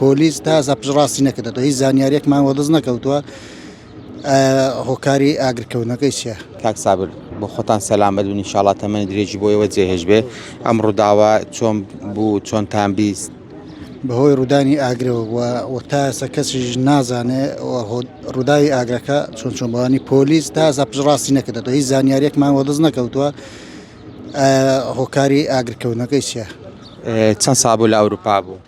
پۆلیس تا ئێستا پشتڕاستی نەکردەوە هیچ زانیاریەکمان وەدەست نەکەوتووە هۆکاری ئاگرکەوتنەکەی چیە کاک سابر بۆ خۆتان سەلامەت و نیشاڵا تەمەنی درێژی بۆیەوە جێهێش بێ ئەم ڕووداوە چۆن بوو چۆن تان بیست بەهۆی ڕوودانی ئاگرەوە وە تا ئێستا کەسیش نازانێ ڕووداوی ئاگرەکە چۆن چۆن بەوانی پۆلیس تا ئێستا پشتڕاستی نەکردەوە هیچ زانیاریەکمان وەدەست نەکەوتووە هۆکاری ئاگرکەوتنەکەی چیە چەند سابوو لە ئەوروپا بوو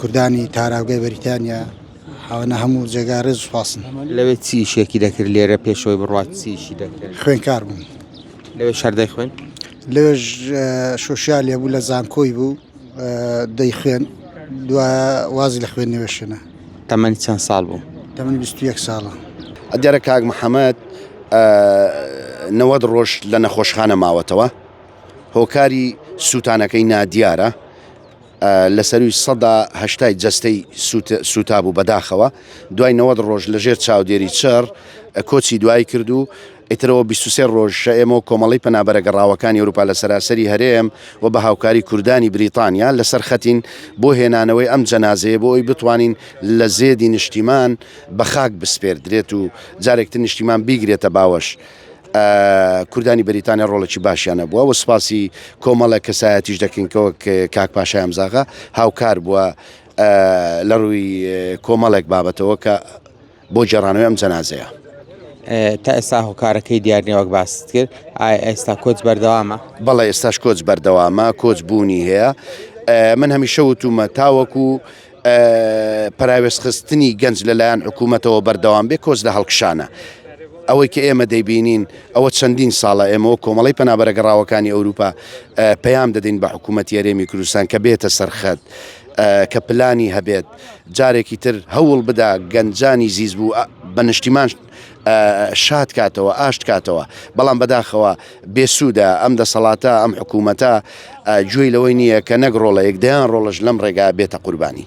کوردانی تاراوگەی بەریتانیا حاوەنە هەموو جێگا ڕێز سوپاسن لەوێ چی شێکی دەکرد لێرە پێشەوەی بڕات چیشی دەکرد خوێنکار بوون لەوێ شەردەی خوێن لەوێژ شوشال لێ بوو لە زانکۆی بوو دەی خوێن دو وازی لە خوێن نوێشێنە تەمەنی چەند ساڵ بوو تەمەنی 21 ساڵە ئەدیارە کاک محەممەد نەوەد ڕۆژ لە نەخۆشخانە ماوەتەوە هۆکاری سووتانەکەی نادیارە لە سەرووی سەدا هەشتای جەستەی سووتابوو بەداخەوە، دوای نەوەد ڕۆژ لە ژێر چاودێری چڕ کۆچی دوایی کرد و ئیترەوە بیست و سێ ڕۆژ ئێمە وەک کۆمەڵەی پەنابەرە گەڕاوەکانی ئەوروپا لە سەراسەری هەرێم و بە هاوکاری کوردانی بریتانیا لەسەر خەتین بۆ هێنانەوەی ئەم جەنازەیە بۆ ئەوی بتوانین لە زێدی نیشتیمان بە خاک بسپێردرێت و جارێکتر نیشتیمان بیگرێتە باوەش. کوردانی بەریتانیا ڕۆڵێکی باشیان هەبووە و سپاسی کۆمەڵە کەسایەتیش دەکەین کەەوە کاک پاشای ئەمزاغا هاوکار بووە لە ڕووی کۆمەڵێک بابەتەوە کە بۆ جێڕانەوەی ئەم جەنازەیە تا ئێستا هۆکارەکەی دیارنیوەک باست کرد ئێستا کۆچ بەردەوامە بەڵێ ئێستاش کۆچ بەردەوامە کۆچ بوونی هەیە من هەمیشە وتومە تاوەکو پەراوێزخستنی گەنج لەلایەن حکوومەتەوە بەردەوام بێ کۆچ لە هەڵکشانە. ئەوەی کە ئێمە دەیبینین ئەوە چەندین ساڵە ئێمەوە کۆمەڵی پەنابەرە گەڕاوەکانی ئەوروپا پەیام دەدەین بە حکوومەت یاێمی کوردستان کە بێتە سەرخەت کە پلانی هەبێت جارێکی تر هەوڵ بدا گەنجانی زیز بوو بە نیشتیمان شاد کاتەوە ئاشت کاتەوە بەڵام بەداخەوە بێسوودە ئەم دەسەڵاتە ئەم حکوومەتە گوێی لەوەی نییە کە نەک ڕۆڵەیەک دەیان ڕۆڵش لەم ڕێگا بێتە قوربانی.